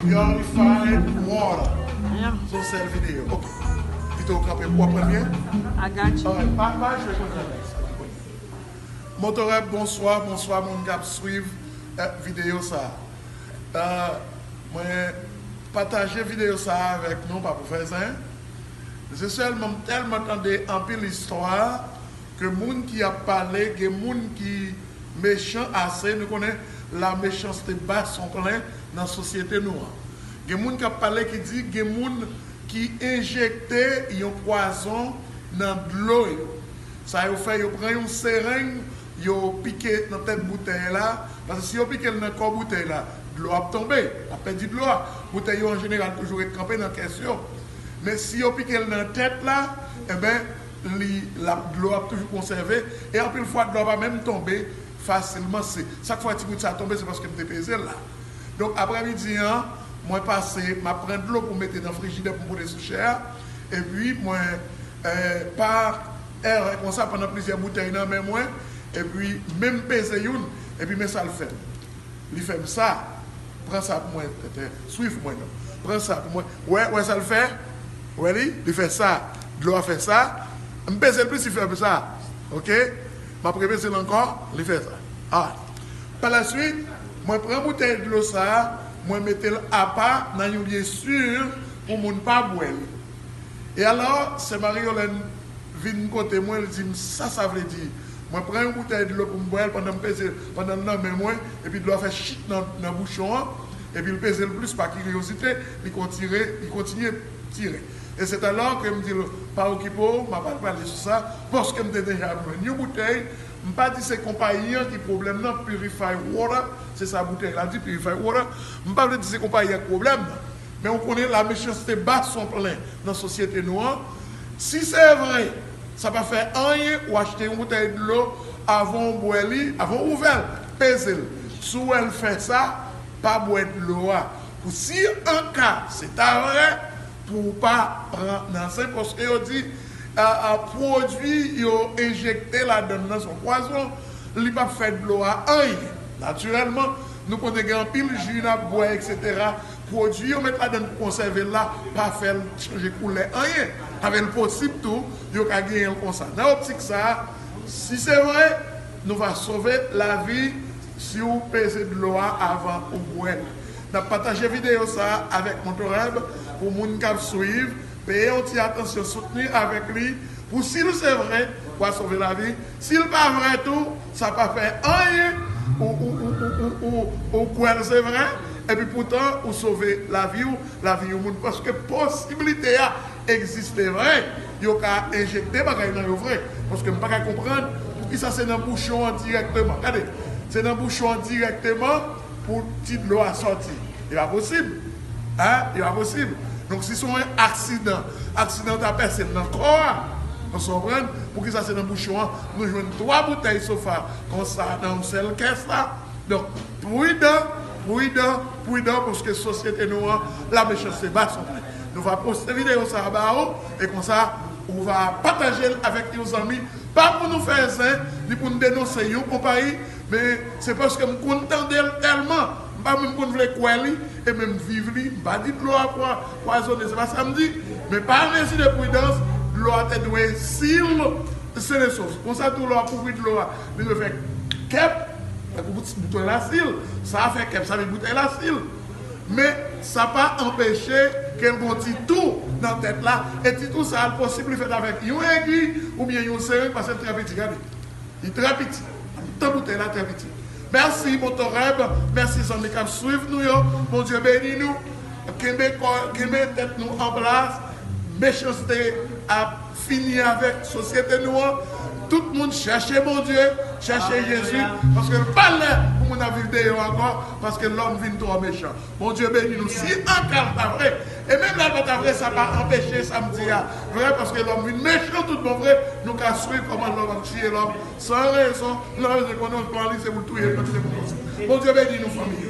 Yo li fine broh son sel video pito ou kanpe pouw aprann byen anmwey pa pa jwe konn jan nèg sa jwe Motoreb bonswa bonswa moun kap swiv video sa mwen pataje video sa avèk nou pa pou fè zen men se sèlman m tèlman tande anpil istwa ke moun ki ap pale gen moun ki mechan ase nou konnen la mechanste bat son plen Nan sosyete nou an, gen moun k ap pale ki di gen moun ki enjekte yon pwazon nan dlo yo. Sa yo fè, yo pran yon sereng, yo pike nan tèt boutèy la, paske si yo pike l nan kò boutèy la, dlo a ap tonbe, l ap pèdi dlo a. Boutèy yo an jeneral toujou ret kanpe nan kès yo. Men si yo pike l nan tèt la, enben, li, l ap, dlo a ap toujou konsève e anpil fwa dlo a pa menm tonbe fasilman se sak fè ti bout sa tonbe se paske m te pezel la donk aprè midi an mwen pase map pran dlo pou mete nan frijidè pou m pote sou chè a epi mwen pa erè konsa pandan plizyè boutèy nan men mwen epi menm peze youn epi men sal fèm li fèm sa pran sa pou mwen tètè swiv mwen non pran sa pou mwen wè wè sal fè wè li li fè sa dlo a fè sa m pezel plis li fèm sa ok. M ap repete l ankò, li fè sa a. Palaswit, mwen pran boutèy dlo sa a, mwen mete l apa nan yon lye si pou moun pa bwè li. E alò, sè Marie-Yolène vin kote mwen, l di m sa sa vle di. Mwen pran yon boutèy dlo pou m bwè l pandan m peze l, pandan l nan men mwen, epi dlo a fè chit nan bouchon an, epi l peze l plis pa kiryozite, li kontinye. tire. E se talò ke m di l, pa okipe w, m ap al pale sou sa, paske m te deja jwenn yon boutèy, m pa di se konpayi an ki pwoblèm nan, Purified Water, se sa boutèy la di, Purified Water, m pa vle di se konpayi an ki pwoblèm nan, men ou konnen la mechanste ba son plen nan sosyete nou an, si se vre, sa pa fè anyen ou achte yon boutèy dlo, avan w bwè li, avan w ouvè l, peze l, si w wè l fè sa, pa bwè dlo a, Pou si an ka se ta vre pou ou pa pran nan zen paske yo di pwodui yo enjekte ladann nan se yon pwazon li pap fè dlo a anyen natirèlman nou konnen gen anpil ji nap bwè etc pwodui yo met ladann pou konsève l la pa fè l chanje koulè anyen avè l posib tou yo ka genyen l konsa nan optik sa si se vre nou va sove lavi Si ou peze dlo a avan ou bwèl. Nap pataje videyo sa avèk Motorab pou moun kap swiv, peye yon ti atansyon soutni avèk li pou sil se vre wa sove lavi, sil pa vre tou sa pa fè anyen ou kwèl se vre epi poutan ou sove laviw, lavi yon moun paske posiblite a Egziste vre, yo ka enjekte bagay nan yo vre, paske m paka konprann poukisa se nan bouchon an dirèkteman, gade, se nan bouchon an dirèkteman pou ti dlo a sòti, e pa posib, a, e pa posib, donk si son yon aksidan, aksidan an ta pèse l nan kò a, nou sa w konprann, poukisa se nan bouchon an nou jwenn 3 boutèy sofa konsa nan yon sèl kès la, donk. Prudan, prudan, prudan paske sosyete nou an la mechanste ba son li. Nou va poste video sa a ba ou e konsa ou va pataje l avèk yon zanmi pa pou nou fè zen ni pou n denonse yon konpayi men se paske m konn tande l tèlman m pa menm konn vle kwè li e menm viv li m pa di dlo a pwazone se pa sa m di men pa mezi de prudans dlo a te dwe sil senesos konsa tou lè w ap ouvri dlo a Li dwe fè kep tankou boutèy lasil. Sa fè kep sa vin boutèy lasil. Men sa pa anpeche ke l gen yon ti tou nan tèt la e ti tou sa a posib li fèt avèk yon egiy oubyen yon sering pase l trè piti. Gade. Li trè piti. Nan mitan boutèy la trè piti. Mèsi Motoreb, mèsi zanmi k ap swiv nou yo. Bondye beni nou. Kenbe kò, kenbe tèt nou an plas. Mechanste ap Fini avèk sosyete nou an tout moun chèche Bondye chèche Jezi paske l pa lè pou moun ap viv deyò ankò paske lòm vin twò mechan Bondye beni nou si anka l ta vre e menm lè l pa ta vre sa pa anpeche sa m di a vre paske lòm vin mechan tout bon vre nou ka swiv kòman lòm ap tiye lòm san rezon nan rezon konnen plan li se pou l touye l paske se pou l konsa Bondye beni nou fanmi yo.